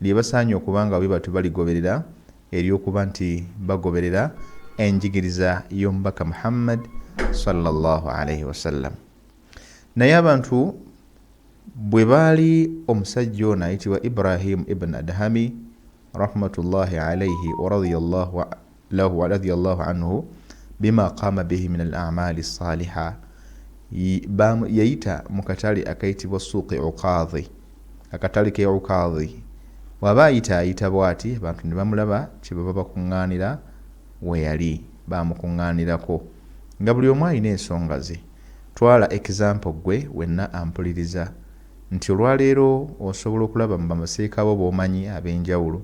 lye basaanye okuba nga bwe batyo baligoberera ery'okuba nti bagoberera enjigiriza y'omubaka Muhammad sallallahu alaihi wasallam. Naye abantu bwe baali omusajja ono ayitibwa Ibrahim ibn Adhami rahmatullahi alaihi wa radiyallahu lahu wa radhiya Allahu anhu bima qama bihi min al-a'mali as-saliha yayita mu katale akayitibwa suuqi uqadhi akatale ke uqadhi waba ayita ayita bwati abantu ne bamulaba kyebaba bakuŋŋaanira weyali bamukuŋŋaanirako nga buli omu alina ensonga ze twala example gwe wenna ampuliriza nti olwaleero osobola okulaba mu bamaseeka bo b'omanyi ab'enjawulo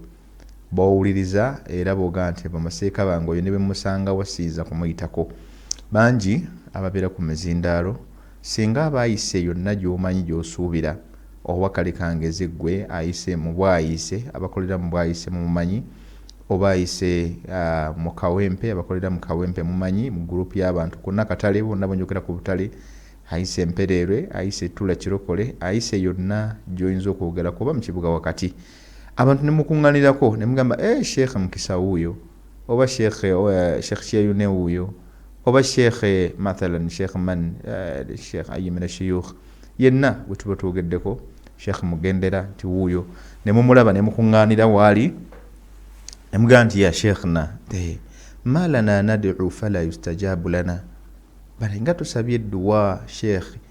bowuliriza era boga nti bamaseeka bange oyo nebwemusangawo siyiza kumuyitako bangi ababeera ku mizindaalo singa aba ayise yonna gyomanyi gyosuubira oba kale kangeze ggwe ayise mu bwayiise abakolera mu bwayiise mumumanyi oba ayise mu kawempe abakolera mu kawempe mumanyi mu group y'abantu konna katale bonna bwenjogera ku butale ayise empereerwe ayise ettula kirokole ayise yonna gyoyinza okwogerako oba mu kibuga wakati abantu nemukunganirako nemugamba e sheikh mukisa wuuyo oba sheikh eh, sheikh kyeyune wuuyo oba sheikh eh, mathalan sheikh man eh, sheikh ayimira shuyukh yenna wetuba twogeddeko sheikh mugendera nti wuuyo nemumulaba nemukunganira waali nemugamba nti ya sheikhna malana nadu fala yustajabu lana bale nga tusabye edduwa sheikh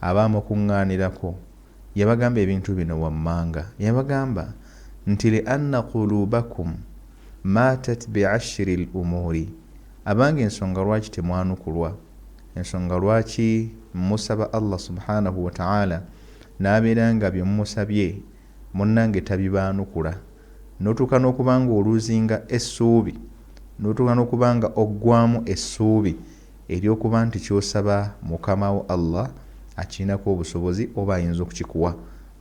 Abaamukunngaanirako, yabagamba ebintu bino wammanga, yabagamba nti, Li anna quluubakum maatat bi ashri l-umuuri, Abange ensonga lwaki temwanukulwa, ensonga lwaki musaba Allah subhaanahu wa ta'aala n'abeera nga bye mumusabye munnange tabibaanukula, n'otuuka n'okuba ng'oluuzinga essuubi, n'otuuka n'okuba nga oggwaamu essuubi. Ery'okuba nti ky'osaba Mukamawo Allah akirinako obusobozi oba ayinza okukikuwa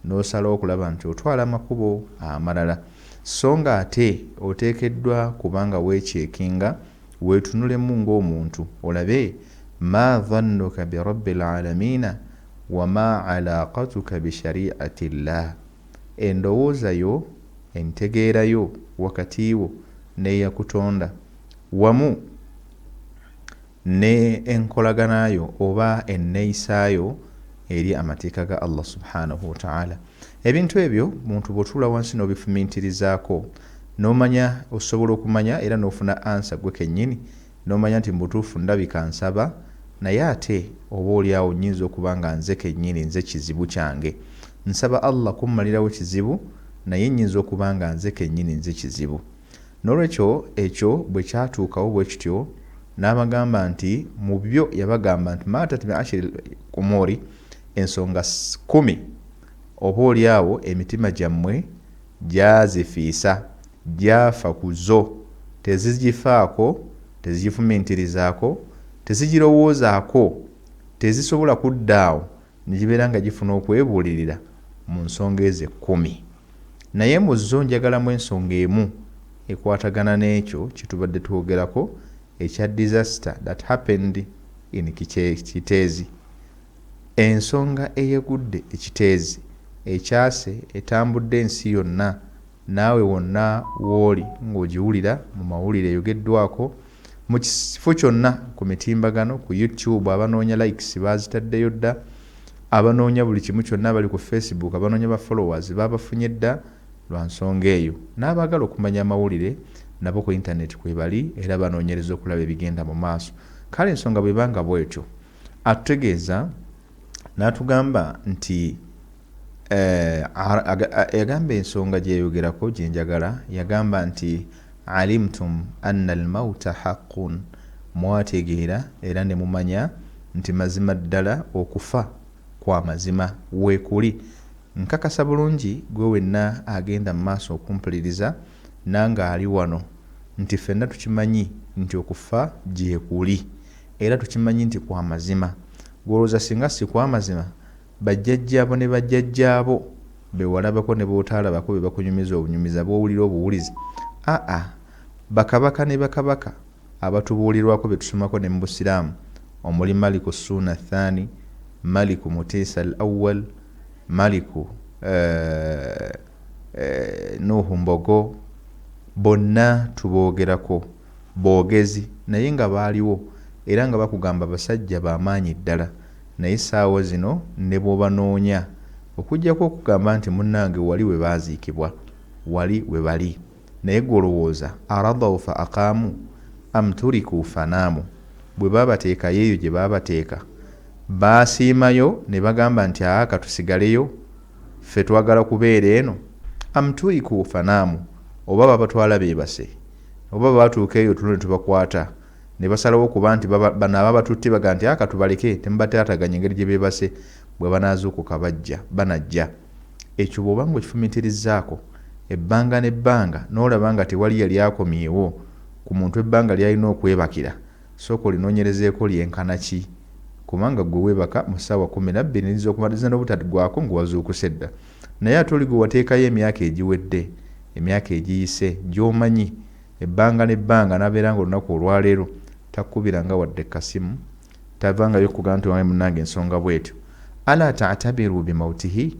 n'osalawo okulaba nti otwala amakubo amalala. Sso nga ate oteekeddwa kuba nga weecheekinga, weetunulemu ng'omuntu, olabe, Maa dhannuka bi Rabbil Aalamiina wa maa alaaqatuka bi Shari'ati Llaah, Endowooza yo, entegeera yo wakati wo n'eyakutonda, wamu. ne enkolagana yo oba enneyisa yo eri amateeka ga allah subhanahu wataala ebintu ebyo muntu bwotuula wansi n'obifumintirizaako nomanya osobola okumanya era n'ofuna ansa gwe kennyini nomanya nti mubutuufu ndabika nsaba naye ate oba oli awo nyinza okuba nga nze kennyini nze kizibu kyange nsaba allah kummalirawo kizibu naye nyinza okuba nga nze kennyini nze kizibu N'olwekyo ekyo bwe kyatuukawo bwe kityo, n'abagamba nti, mu byo yabagamba nti, Maa tatmi ashiri l-umuuri, ensonga kkumi, oba oli awo emitima gyammwe gyazifiisa, gyafa ku zo, tezigifaako, tezigifumintirizaako, tezigirowoozaako, tezisobola kudda awo ne gibeera nga gifuna okwebuulirira mu nsonga ezo ekkumi. Naye mu zo njagalamu ensonga emu ekwatagana n'ekyo kye tubadde twogerako ekya disaster that happened in Kiteezi. Ensonga eyegudde e Kiteezi, ecaase, etambudde ensi yonna, naawe wonna w'oli ng'ogiwulira mu mawulire eyogeddwako, Mu kifo kyonna ku mitimbagano, ku YouTube abanoonya likes baazitaddeyo dda, abanoonya buli kimu kyonna abali ku Facebook, abanoonya ba followers baabafunye dda lwa nsonga eyo. N'abaagala okumanya amawulire nabo ku yintaneeti kwebali era banoonyereza okulaba ebigenda mu maaso. Kale ensonga bw'eba nga bw'etyo, atutegeeza. N'atugamba nti, eh, yagamba ensonga gye yayogerako gye njagala, yagamba nti, Alimtum anna al-mauta haqqun, mwategeera era ne mumanya nti mazima ddala okufa kwa mazima. Weekuli. Nkakasa bulungi ggwe wenna agenda mu maaso okumpuliriza, nange ali wano, nti ffenna tukimanyi nti okufa gyekuli. Era tukimanyi nti kwa mazima. Ggwe olowooza singa si kwa mazima, bajjajjaabo ne bajjajjaabo be walabako ne b'otaalabako be bakunyumiza obunyumiza, b'owulira obuwulizi? A-a. Bakabaka ne bakabaka abatubuulirwako be tusomako ne mu Busiraamu omuli Maliku Ssuuna Athani, Maliku Mutiisa Al-Awwal, Maliku, eh, eh, Nuuhu Mbogo, bonna tuboogerako. Bogezi naye nga baaliwo era nga bakugamba basajja ba maanyi ddala naye ssaawa zino ne bw'obanoonya okuggyako okugamba nti munnange wali we baaziikibwa, wali we bali naye ggwe olowooza aradhau fa aqaamu am turikuu fa naamu, bwe baabateekayo eyo gye baabateeka baasiimayo ne bagamba nti aa ka tusigaleyo ffe twagala kubeera eno am turikuu fa naamu oba babatwala beebase? Oba batuuka eyo tulo netubakwata nebasalawo kuba nti bano ababatutte baga nti aka tubaleke temubataataganya engeri gyebebase bwebanaazuukuka bajja banajja. Ekyo bwoba nga okifumiitirizzaako ebbanga nebbanga nolaba nga tewali yali akomyewo ku muntu ebbanga lyalina okwebakira sooka olinoonyerezeeko lyenkana ki kubanga gwe webaka mu ssaawa kumi nabbiri neriza okumaliriza nobutaggwako nga wazuukuse dda. Naye ate oli gwe wateekayo emyaka egiwedde, emyaka egiyise, gy'omanyi, ebbanga n'ebbanga, n'abeera nga olunaku olwaleero takukubiranga wadde kasimu, tavangayo kukugamba nti owange munnange nsonga bw'etyo, Alaa ta'tabiru bi mautihi,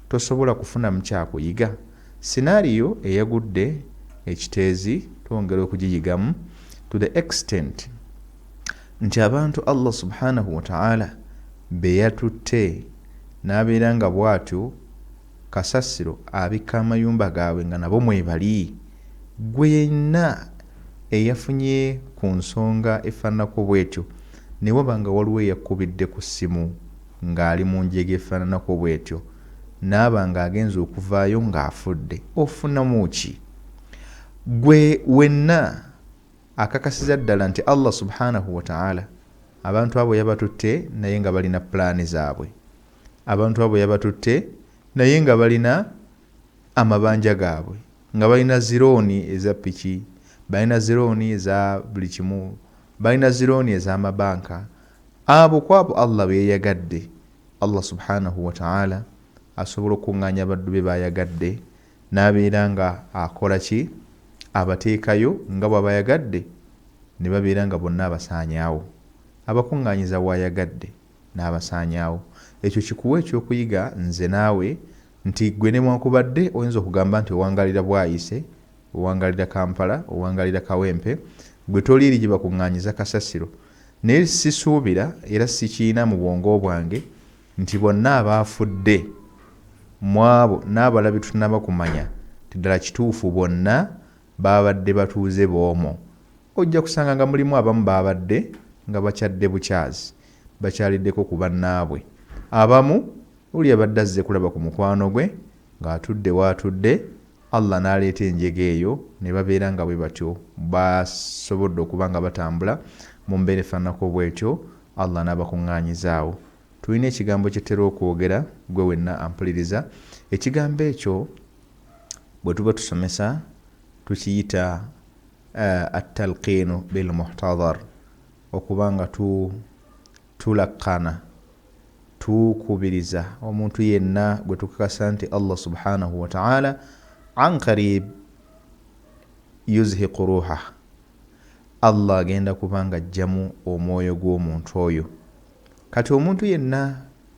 tosobola kufunamu kya kuyiga? Scenario eyagudde e Kiteezi twongera okugiyigamu to the extent. nti abantu Allah subhanahu wa ta'ala beyatutte n'abeera nga bwatyo kasasiro abikka amayumba gaabwe nga nabo mwebali gwe yenna eyafunye ku nsonga efaananako bwetyo ne waba nga waliwo eyakkubidde ku ssimu ng'ali mu njega efaananako bwetyo n'aba ng'agenza okuvaayo ng'afudde ofunamu ki gwe wenna Akakasiza ddala nti Allah subhaanahu wa ta'aala abantu abo yabatutte naye nga balina pulaani zaabwe, abantu abo yabatutte naye nga balina amabanja gaabwe, nga balina zirooni eza piki, balina zirooni eza buli kimu, balina zirooni ez'amabanka, abo kw'abo Allah be yayagadde, Allah subhaanahu wa ta'aala asobola okukungaanya abaddu be b'ayagadde, n'abeera nga akola ki? abateekayo nga bw'abayagadde ne babeera nga bonna abasaanyaawo, abakuŋŋaanyiza w'ayagadde n'abasaanyaawo. Ekyo kikuwe ekyokuyiga nze naawe nti ggwe newankubadde oyinza okugamba nti owangaalira Bwaise, owangaalira Kampala, owangaalira Kawempe, ggwe toliiri gye bakuŋŋaanyiza kasasiro. Naye sisuubira era sikiyina mu bwongo bwange nti bonna abaafudde mw'abo n'abalala be tutanaba kumanya nti ddala kituufu bonna baabadde batuuze b'omwo, ojja kusanga nga mulimu abamu baabadde nga bakyadde bukyazi bakyaliddeko ku bannaabwe, abamu oli yabadde azze kulaba ku mukwano gwe ng'atudde w'atudde Allah n'aleeta enjega eyo ne babeera nga bwe batyo basobodde okuba nga batambula mu mbeera efaananako bw'etyo, Allah n'abakunngaanyiza awo. Tulina ekigambo kye tutera okwogera, ggwe wenna ampuliriza, ekigambo ekyo bwe tuba tusomesa tukiyita At-talqiinu bil-muhtadhar, okuba nga tu, Tulaqqana, tukubiriza, omuntu yenna gwe tukakasa nti Allah subhaanahu wa ta'aala an qariib yuzhiqu ruuhah, Allah agenda kuba ng'aggyamu omwoyo gw'omuntu oyo. Kati omuntu yenna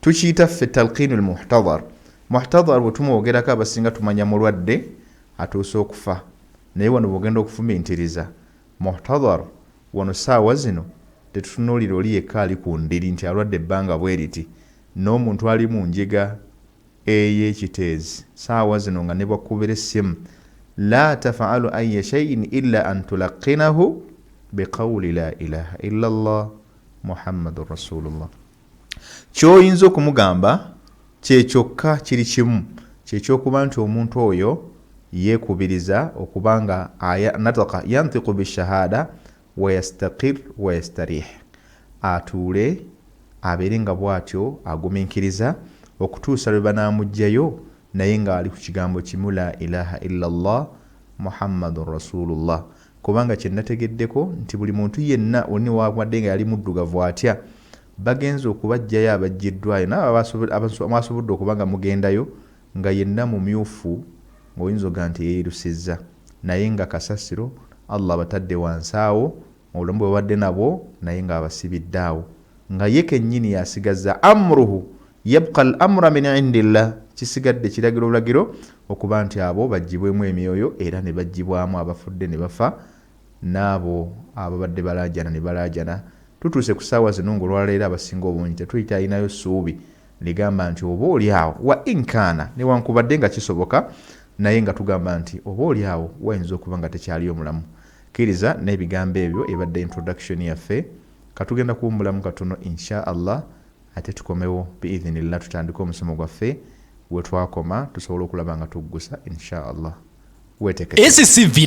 Tukiyita ffe talqiinu lmuhtadhar. Muhtadhar bwe tumwogerako abasinga tumanya mulwadde atuuse okufa naye wano bw'ogenda okufumiitiriza muhtadhar wano ssaawa zino tetutunuulira oli yekka ali ku ndiri nti alwadde ebbanga bwe liti n'omuntu ali mu njega eye kiteezi ssaawa zino nga ne bw'akkubira essimu laa tafaalu ayya shaiin illa an tulaqqinahu biqawuli laa ilaaha illa Allah Muhammadun Rasuulullah. Ky'oyinza okumugamba kye kyokka kiri kimu, kye ky'okuba nti omuntu oyo yeekubiriza okuba nga aya, nataka yantiku bishahaada, wayastakir wayastarih, atuule abeere nga bw'atyo agumiikiriza okutuusa lwe banaamuggyayo naye ng'ali ku kigambo kimu, Laa ilaaha illa Allah Muhammadun Rasuulullah. Kubanga kye nategeddeko nti buli muntu yenna oli newankubadde nga yali muddugavu atya bagenze okubaggyayo abaggyiddwayo n'abo mwasobodde okuba nga mugendayo nga yenna mumyufu ng'oyinza okuga nti yeyerusiza naye nga kasasiro Allah abatadde wansi awo mu bulamu bwebabadde nabwo naye nga abasibidde awo nga ye kennyini y'asigazza Amruhu Yabqa al amra min indillah, kisigadde kiragiro bulagiro okuba nti abo baggyibwemu emyoyo era ne baggyibwamu abafudde ne bafa n'abo ababadde balaajana ne balaajana. Tutuuse ku ssaawa zino ng'olwaleero abasinga obungi tetukyalinayo ssuubi ligamba nti oba oli awo wa in kaana newankubadde nga kisoboka naye nga tugamba nti oba oli awo wayinza okuba nga tekyaliyo mulamu. Kkiriza n'ebigambo ebyo ebadde introduction yaffe. Ka tugenda kuwummulamu katono in sha Allah Ate tukomewo bi'idhinillah tutandike omusomo gwaffe wetwakoma tusobole okulaba nga tuggusa in sha Allah. Wetekeko. Esi si villa.